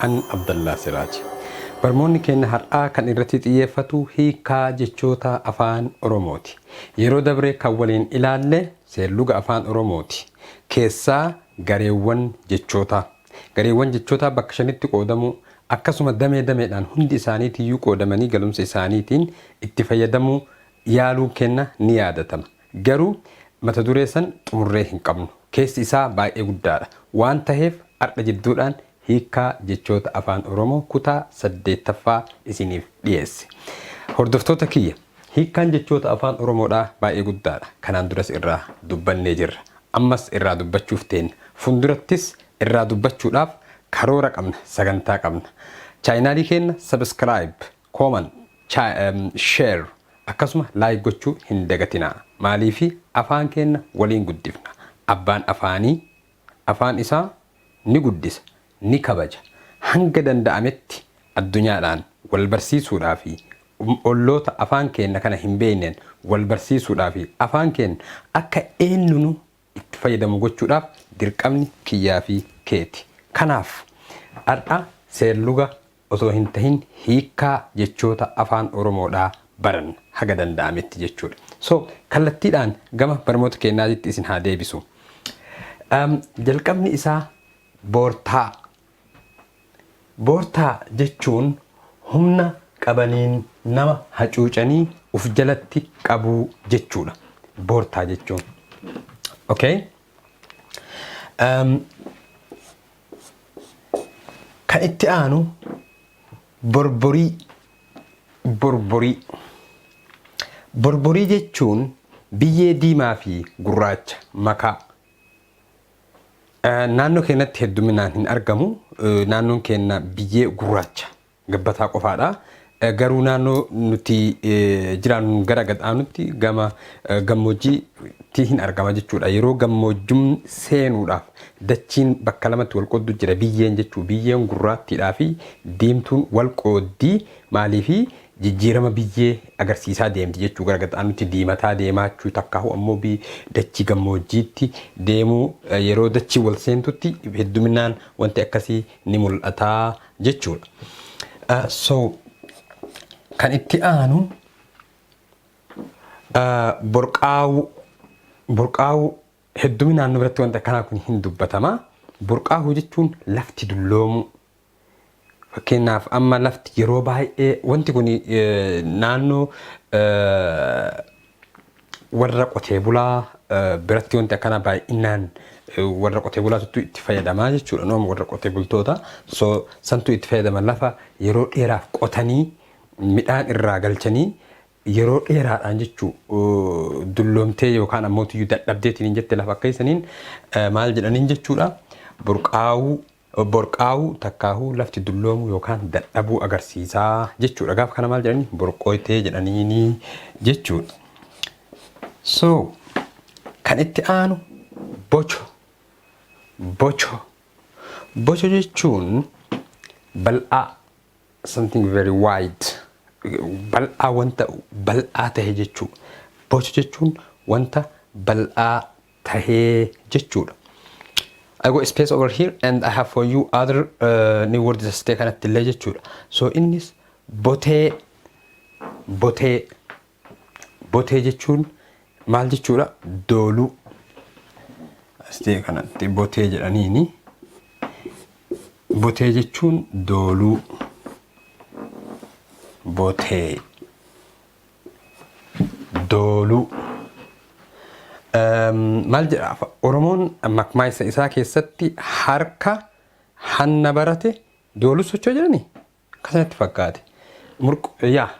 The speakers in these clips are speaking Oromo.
An Abdallaa Siraaj. Barmoonni keenna har'aa kan irratti xiyyeeffatu hiikkaa jechoota Afaan Oromooti. Yeroo dabre kan waliin ilaalle seerluga Afaan Oromooti. Keessaa gareewwan jechootaa. Gareewwan jechootaa bakka shanitti qoodamuu, akkasuma damee dameedhaan hundi isaaniitiyyuu qoodamanii galumsa isaaniitiin itti fayyadamuu yaaluun keenna ni yaadatama. Garuu mata duree san xumurree hin qabnu. Keessi isaa baay'ee guddaadha. Waan taheef ardha jidduudhaan hiikkaa jechoota Afaan Oromoo kutaa 8ffaa isiniif dhiyeesse. Hordoftoota kiyya! Hiikkaan jechoota Afaan Oromoodhaa baay'ee guddaadha. Kanaan duras irraa dubbannee jirra. Ammas irraa dubbachuuf teenna. Fundurattis irraa dubbachuudhaaf karoora qabna, sagantaa qabna. Chaayinaalii keenna subscribe. Comment, Share akkasuma like gochuu hin dagatinaa. Maaliifi afaan keenna waliin guddifna. Abbaan afaanii afaan isaa ni guddisa, ni kabaja. Hanga danda'ametti addunyaadhaan wal barsiisuudhaa fi olloota afaan keenna kana hin beeyneen wal barsiisuudhaa fi afaan keenna akka eennunu itti fayyadamu gochuudhaaf dirqamni kiyyaa fi keeti. Kanaaf, har'a seerluga osoo hin tahin hiikkaa jechoota Afaan Oromoodhaa baranna, haga danda'ametti jechuudha. So, kallattiidhaan gama barmoota keennaatitti isin haa deebisu. Jalqabni isaa boortaa. Boortaa jechuun humna qabaniin nama hacuucanii uf jalatti qabuu jechuudha boortaa jechuun. Okay? Um, kan itti aanu borborii borborii borborii jechuun biyyee diimaa fi gurraacha makaa Naannoo keenyatti hedduminaan hin argamu. Naannoon keenya biyyee gurraacha gabbataa qofaadha. Garuu naannoo nuti jiraannu gara gad aanutti gama gammoojjiitti hin argama jechuudha. Yeroo gammoojjumni seenuudhaaf dachiin bakka lamatti wal qooddu jira. Biyyeen jechuu biyyeen gurraattiidhaa fi diimtuun wal qooddii maaliifi jijjiirama biyyee agarsiisaa deemti jechuu gara gaxaanutti diimataa deemaachuu takkaahu ammoo bi dachii gammoojjiitti deemuu yeroo dachii wal seentutti hedduminaan wanti akkasii ni mul'ataa jechuudha. Ah, So kan itti aanu ah, borqaawuu borqaawuu hedduminaan nu biratti wanti akkanaa kun hin dubbatama. Borqaawuu jechuun lafti dulloomuu. Fakkeenyaaf amma lafti yeroo baay'ee wanti kun naannoo warra qotee bulaa biratti wanti akkana baay'inaan warra qotee bulaatuttu itti fayyadamaa jechuudha. Noom warra qotee bultoota so santu itti fayyadama lafa yeroo dheeraaf qotanii midhaan irraa galchanii yeroo dheeraadhaan jechuu dulloomtee yookaan ammoo tiyyu dadhabdeetiin hin jette lafa akka isaniin maal jedhaniin jechuudha burqaa'uu Borqaa'uu takkaahuu lafti dulloomuu yookaan dadhabuu agarsiisa jechuudha. Gaafa kana maal jedhanii? Borqooytee jedhaniini jechuudha. So kan itti aanu bocho. Bocho. Bocho jechuun bal'aa something very wide bal'aa wanta bal'aa ta'e jechuu. Bocho jechuun wanta bal'aa tahe jechuudha. I go space over here and I have for you other uh, new words as ta'e kanatti illee jechuudha. So innis botee botee botee jechuun maal jechuudha? Dooluu. As ta'e kanatti botee jedhaniini. Botee jechuun dooluu. Botee. Dooluu. Maal jedha Oromoon makmaaysa isaa keessatti harka hanna barate dooluu socho'a jedhani akkasa natti fakkaate. Yaa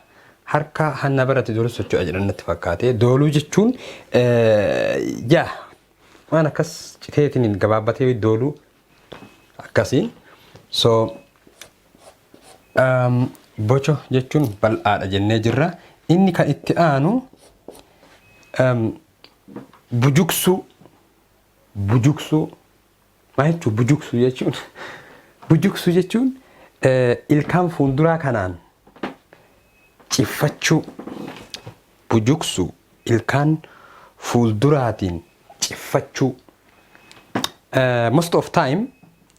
harka hanna barate dooluu socho'a jedhan natti fakkaate. Dooluu jechuun yaa waan akkas citeetiin gabaabbatee dooluu akkasi so um, bocho jechuun bal'aadha jennee jirra inni kan itti aanu um, bujuksuu bujuksuu maa jechuu bujuksuu jechuun bujuksuu jechuun eh, ilkaan fuulduraa kanaan Ciffachuu, bujuqsuu, ilkaan fuulduraatiin ciffachuu. Most of time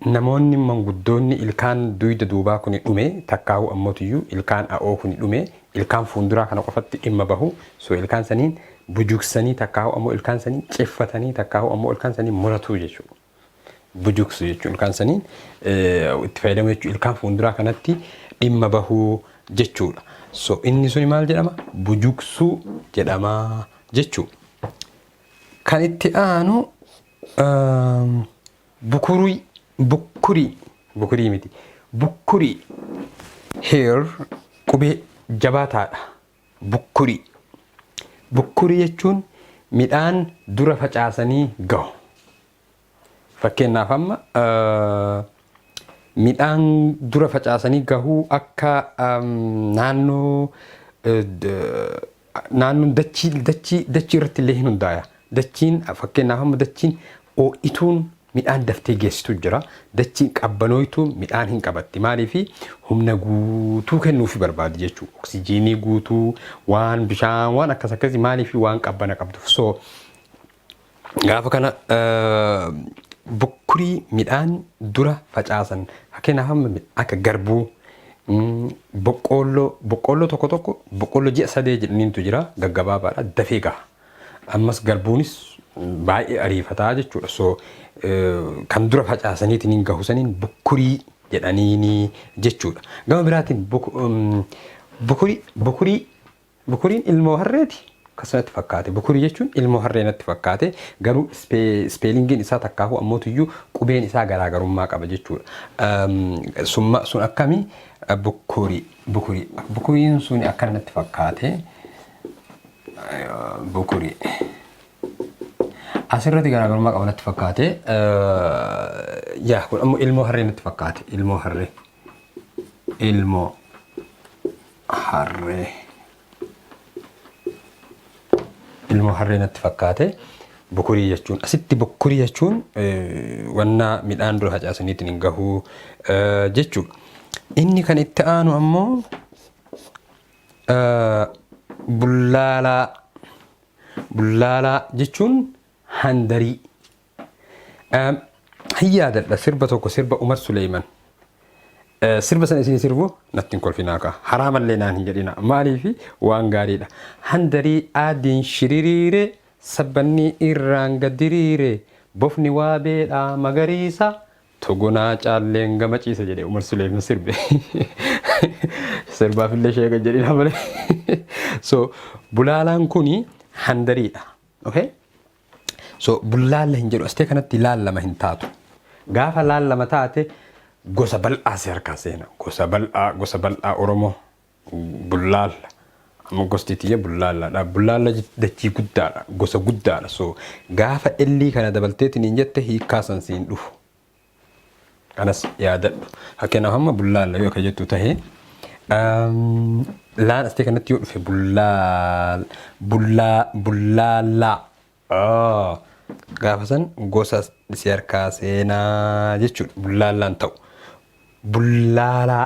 namoonni manguddoonni ilkaan duyda duubaa kuni dhume takkaahu ammotuyyuu ilkaan a'oo kuni dhume ilkaan fuunduraa kana qofatti dhimma bahu so ilkaan saniin bujuqsanii takkaahu ammoo ilkaan saniin ciffatanii takkaahu ammoo ilkaan saniin muratuu jechuudha. Bujuksu jechuun ilkaan saniin itti fayyadamu jechuudha. Ilkaan fuulduraa kanatti dhimma bahuu jechuudha. So inni suni maal jedhama? Bujuksuu jedhama jechuudha. Kan itti aanu bukurii bukkurii bukurii miti bukkurii heer qubee jabaataadha. Bukkurii Bukkurii jechuun midhaan dura facaasanii gahu. Fakkeenyaaf amma midhaan dura facaasanii gahuu akka naannoo naannoon dachii dachii dachii irratti illee hin hundaaya. Dachiin fakkeenyaaf amma dachiin oo'ituun Midhaan daftee geessitu jira. Dachiin qabbanooytuun midhaan hin qabatti. Maaliif? Humna guutuu kennuufi barbaadi jechuudha. Oksijiinii guutuu, waan bishaan, waan akkas akkasii maaliif waan qabbana qabduuf. So gaafa kana bukkurii midhaan dura facaasan fakkeenyaaf amma akka garbuu boqqoolloo boqqoolloo tokko tokko boqqoolloo ji'a sadee jedhaniintu jira gaggabaabaadha dafee gaha. Ammas garbuunis baay'ee ariifataa jechuudha. So kan dura facaasaniitiin hin gahu saniin bukkurii jedhaniini jechuudha. Gama biraatiin bukurii bukurii bukuriin ilmoo harreeti akkasumatti fakkaate. Bukurii jechuun ilmoo harree natti fakkaate garuu ispeelingiin isaa takkaafuu ammootuyyuu qubeen isaa garaagarummaa qaba jechuudha. Summa sun akkami bukurii bukurii bukuriin sun akka natti fakkaate. Bukurii. Asirratti garaagarummaa qaba natti fakkaate. Yaa kun ammoo ilmoo harree natti fakkaate. Ilmoo harree. Ilmoo harree. Ilmoo harree natti fakkaate. Bukurii jechuun asitti bukurii jechuun wanna midhaan dura facaasaniitiin hin gahuu jechuudha. Inni kan itti aanu ammoo Bullaalaa Bullaalaa jechuun handarii. Hin yaadadha sirba tokko sirba Umar Suleeyman. Sirba sana isin sirbu natti hin kolfinaa kaa. Haraa mallee naan hin jedhina. Maaliif waan gaariidha. Handarii aadiin shiririire sabbanni irraan gadiriire bofni waabeedha magariisa. Togonaa caalleen gama ciisa jedhe Umar Suleeman sirbe. Sirbaaf illee sheeka jedhina malee. So bulaalaan kuni handariidha. Okay? So bullaalla hin jedhu astee kanatti laallama hin taatu. Gaafa laallama taate gosa bal'aa si harkaa seena. Gosa bal'aa gosa bal'aa Oromoo. Bullaalla. Amma gosti tiyya bullaallaadha. Bullaalla dachii guddaadha. Gosa guddaadha. So gaafa ellii kana dabalteetiin hin jette hiikkaa san siin dhufu. Kanas yaadadhu. Fakkeenyaaf amma bullaalla yoo akka jettu tahe laan asitee kanatti yoo dhufe bullaal bullaa bullaallaa. Gaafa san gosa si harkaa seenaa jechuudha. Bullaallaan ta'u. Bullaalaa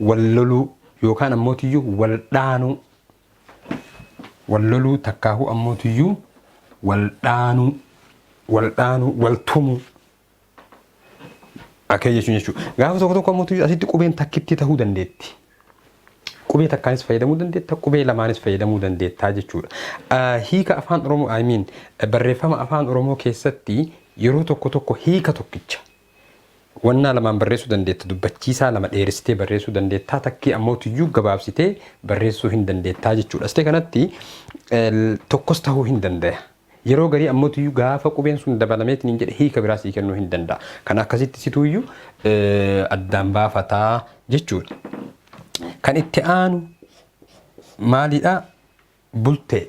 wal loluu yookaan ammootiyyuu wal dhaanuu wal loluu takkaahuu ammootiyyuu wal dhaanuu wal dhaanuu wal tumuu akkee jechuun jechuudha. Gaafa tokko tokko ammootiyyuu asitti qubeen takkittii ta'uu dandeetti. Qubee takkaanis fayyadamuu dandeetta, qubee lamaanis fayyadamuu dandeettaa jechuudha. Hiika afaan Oromoo, I mean, barreeffama afaan Oromoo keessatti yeroo tokko tokko hiika tokkicha Wannaa lamaan barreessuu dandeetta, dubbachiisaa lama dheeressitee barreessuu dandeettaa, takkii ammoo tuyyuu gabaabsitee barreessuu hin dandeettaa jechuudha. Asitee kanatti tokkos tahuu hin dandaya. Yeroo garii ammoo tuyyuu gaafa qubeen sun dabalameetiin hin jedhe hiika biraa sii kennuu hin danda'a. Kan akkasitti situuyyuu addaan baafataa jechuudha. Kan itti aanu maalidha? Bultee.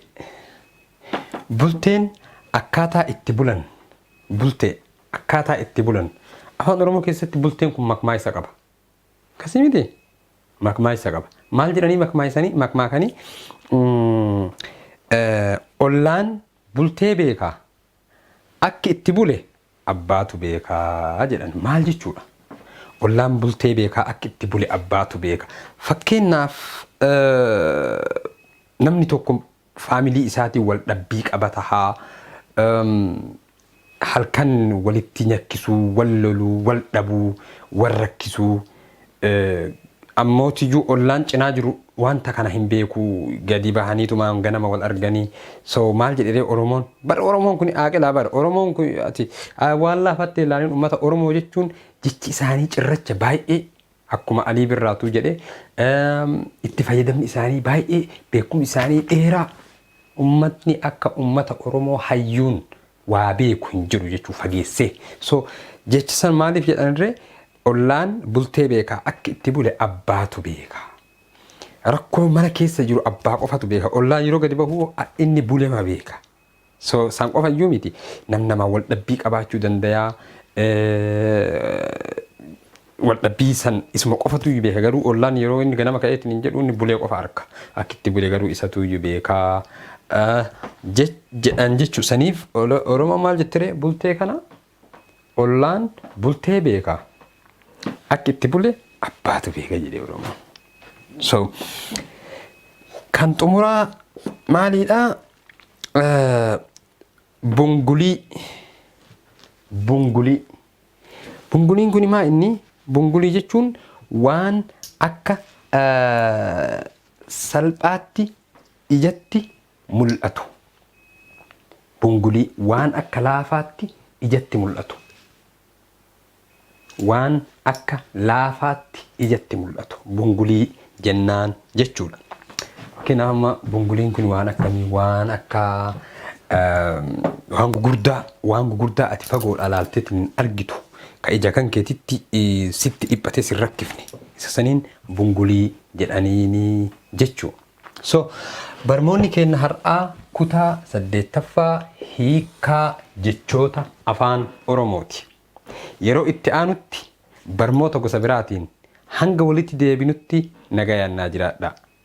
Bulteen akkaataa itti bulan Bultee. Akkaataa itti bulan Afaan Oromoo keessatti bulteen kun makmaaysa qaba. Akkasii miti? Makmaaysa qaba. Maal jedhanii makmaaysanii makmaakanii ollaan bultee beeka. Akki itti bule abbaatu beeka jedhan maal jechuudha? Ollaan bultee beekaa akki itti bule abbaatu beeka. Fakkeennaaf namni tokko faamilii isaatiin wal dhabbii qaba taha, halkan walitti nyakkisuu, wal loluu, wal dhabuu, wal rakkisuu, Ammootiyuu ollaan cinaa jiru wanta kana hin beeku gadi bahaniitumaan ganama wal arganii so maal jedheree oromoon bar oromoon kuni aaqilaa bar oromoon kuni ati waan laafattee ilaalin ummata oromoo jechuun jechi isaanii cirracha baay'ee akkuma alii birraatuu jedhe itti fayyadamni isaanii baay'ee beekum isaanii dheeraa ummatni akka ummata oromoo hayyuun waa beeku hin jiru jechuu fageessee so jecha san maaliif jedhanirre ollaan bultee beeka akka itti bule abbaatu beeka rakkoo mana keessa jiru abbaa qofatu beeka ollaan yeroo gadi bahu inni bulema beeka so san qofa iyyuu miti nam namaa wal dhabbii qabaachuu dandayaa Waldhabbii san isuma qofatuuyyu beeka garuu ollaan yeroo inni ganama ka'ee itinin jedhu inni bulee qofa arka akkitti bule garuu isatuuyyu beeka jedhan jechu saniif oromoon maal jettiree bultee kana ollaan bultee beeka akki itti bule abbaatu beeka jedhe oromoon so kan xumuraa maaliidha bungulii bungulii Bunguliin kuni maa inni bungulii jechuun waan akka salphaatti ijatti mul'atu. Bungulii waan akka laafaatti ijatti mul'atu. Waan akka laafaatti ijatti mul'atu. Bungulii jennaan jechuudha. Kena amma bunguliin kun waan akkamii waan akka waan gugurdaa waan gugurdaa ati fagoodhaa laalteetiin hin argitu ka ija kan keetitti sitti dhiphatee sin rakkifne isa saniin bungulii jedhaniini jechuu. So barmoonni keenna har'aa kutaa saddeettaffaa hiikkaa jechoota afaan Oromooti. Yeroo itti aanutti barmoota gosa biraatiin hanga walitti deebinutti nagayaan naa jiraadhaa.